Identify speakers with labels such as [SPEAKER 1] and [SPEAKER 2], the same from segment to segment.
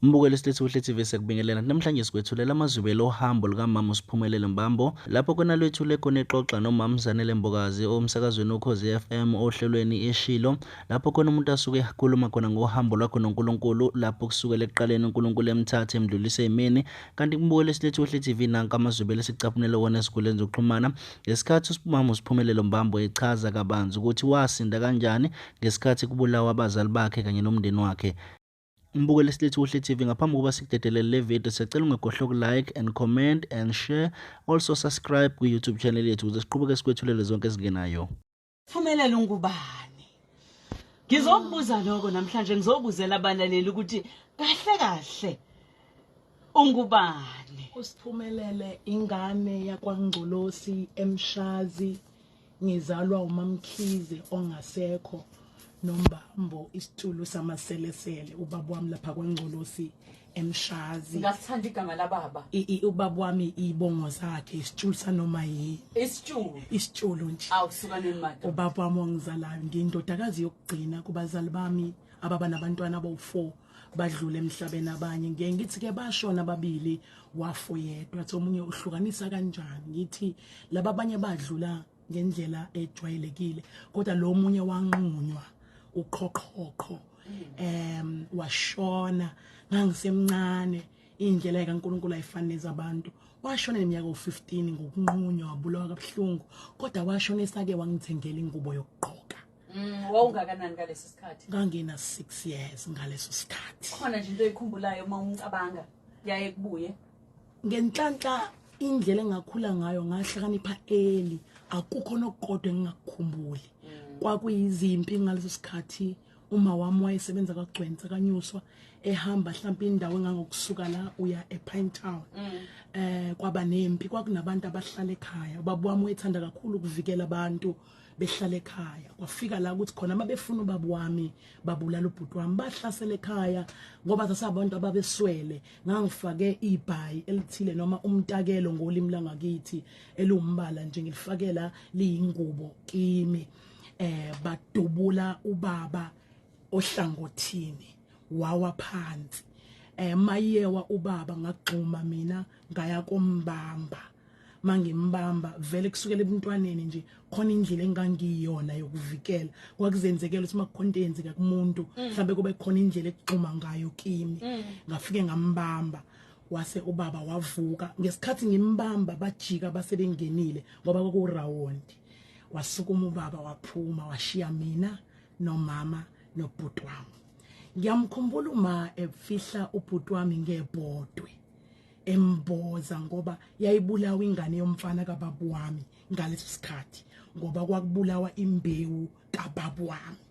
[SPEAKER 1] Mbukeli Slethuhle TV sekubingelela namhlanje sikwethulela amazwibelo ohambo lukamama uSiphumelele Mbambo lapho kona lwethule khona ixoxa nomama Zanele Mbokazi omsakazweni ukhozi FM ohlelweni eshilo lapho khona umuntu asuke ekhuluma khona ngohambo lwakho noNkulunkulu lapho kusukela ekuqaleni uNkulunkulu emthathe emdlulise imini kanti kumbukeli Slethuhle TV nanka amazwibelo sicaphunele wona esikhuleni zokuxhumana ngesikhathi uSiphumamu uSiphumelele Mbambo echaza kabanzi ukuthi wasinda kanjani ngesikhathi kubulawa abazali bakhe kanye nomndeni wakhe Mbukeli Slithi Kuhle TV ngaphambi kokuba sikudedelele le video siyacela ungegohle uku-like and comment and share also subscribe kwi-YouTube channel yethu ukuze siqhubeke sikwethulele zonke ezingenayo. Phumelela
[SPEAKER 2] ungubani? Ngizokubuza lokho namhlanje ngizobuzela abalaleli ukuthi kahle kahle ungubani? Usiphumelele
[SPEAKER 3] ingane yakwaNgcolosi eMshazi Ngizalwa uMaMkhize ongasekho nombambo isitulo samaselesele ubaba wami lapha kwaNgcolosi emshazi ngasithanda igama
[SPEAKER 2] lababa ubaba wami
[SPEAKER 3] ibongo zakhe isitulo sanoma yi isitulo isitulo nje awusukaneni manje
[SPEAKER 2] ubaba wami ongizalayo
[SPEAKER 3] ngindodakazi yokugcina kubazali bami ababa nabantwana abawu4 badlule emhlabeni abanye ngiye ngithi ke bashona ababili wafo yedwa athi omunye uhlukanisa kanjani ngithi laba abanye badlula ngendlela ejwayelekile kodwa lo munye wanqunywa uqhoqhoqho em washona ngangisemncane indlela kaNkuluNkulu ayifaneza abantu washona neminyaka u15 ngokunqunywa wabulawa kabuhlungu kodwa washona esake wangithengela ingubo yokugqoka Mm, wawungakanani
[SPEAKER 2] ngaleso sikhathi? Ngangina 6
[SPEAKER 3] years ngaleso sikhathi. Khona nje into oyikhumbulayo
[SPEAKER 2] uma umcabanga yaye kubuye. Ngenhlanhla
[SPEAKER 3] indlela engakhula ngayo ngahlakanipha eli akukho nokukodwa engingakukhumbuli. Mm. Kwakuyizimpi ngaleso sikhathi uma wami wayesebenza kagcwensa kanyuswa ehamba mhlawumbe indawo engangokusuka la uya ePine Town mm. eh kwaba nempi kwakunabantu abahlala ekhaya ubaba wami uyethanda kakhulu ukuvikela abantu behlala ekhaya kwafika la ukuthi khona mabefuna ubaba wami babulala ubhuti wami bahlasela ekhaya ngoba sasabantu ababeswele ngangifake ibhayi elithile noma umtakelo ngolimi langakithi elumbala nje ngilifakela liyingubo kimi eh badubula ubaba ohlangothini wawa phansi eh mayewa ubaba ngagxuma mina ngaya kombamba mangimbamba vele kusukela ebuntwaneni nje khona indlela engangiyona yokuvikela kwakuzenzekela ukuthi makukhona into eyenzeka kumuntu mm. mhlawumbe kube khona indlela ekugxuma ngayo kimi mm. ngafike ngambamba wase ubaba wavuka ngesikhathi ngimbamba bajika basebengenile ngoba kwakurawundi wasukuma ubaba waphuma washiya mina nomama nobhuti wami ngiyamkhumbula uma efihla ubhuti wami ngebhodwe emboza ngoba yayibulawa ingane yomfana kababu wami ngaleso sikhathi ngoba kwakubulawa imbewu kababu wami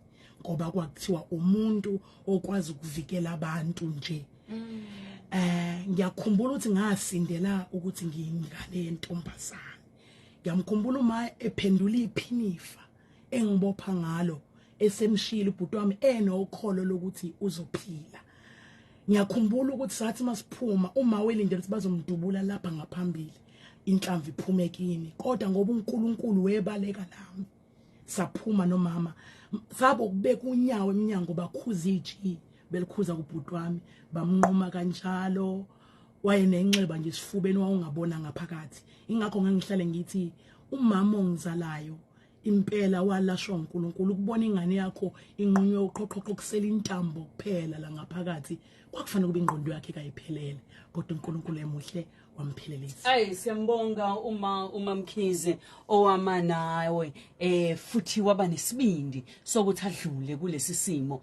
[SPEAKER 3] ngoba kwakuthiwa umuntu okwazi ukuvikela abantu nje mm. eh ngiyakhumbula ukuthi ngasindela ukuthi ngiyingane yentombazane ngiyamkhumbula uma ephendula iphinifa engibopha ngalo esemshilo ubhuti wami enokholo lokuthi uzophila ngiyakhumbula ukuthi sathi masiphuma uma welindele ukuthi bazomdubula lapha ngaphambili inhlamvu iphume kini kodwa ngoba uNkulunkulu webaleka lami saphuma nomama sabo kubeka unyawo eminyango bakhuza iji belikhuza kubhuti wami bamnquma kanjalo wayenenxeba nje sifubeni wawungabona ngaphakathi ingakho ngangihlale ngithi umama ongizalayo impela walashwa uNkulunkulu ukubona ingane yakho inqunywe uqhoqhoqho kusela intambo kuphela la ngaphakathi kwakufanele kube ingqondo yakhe kayiphelele kodwa uNkulunkulu emuhle wamphelelisa ayi siyambonga
[SPEAKER 2] uma umamkhize owama nawe eh futhi waba nesibindi sokuthi adlule kulesi simo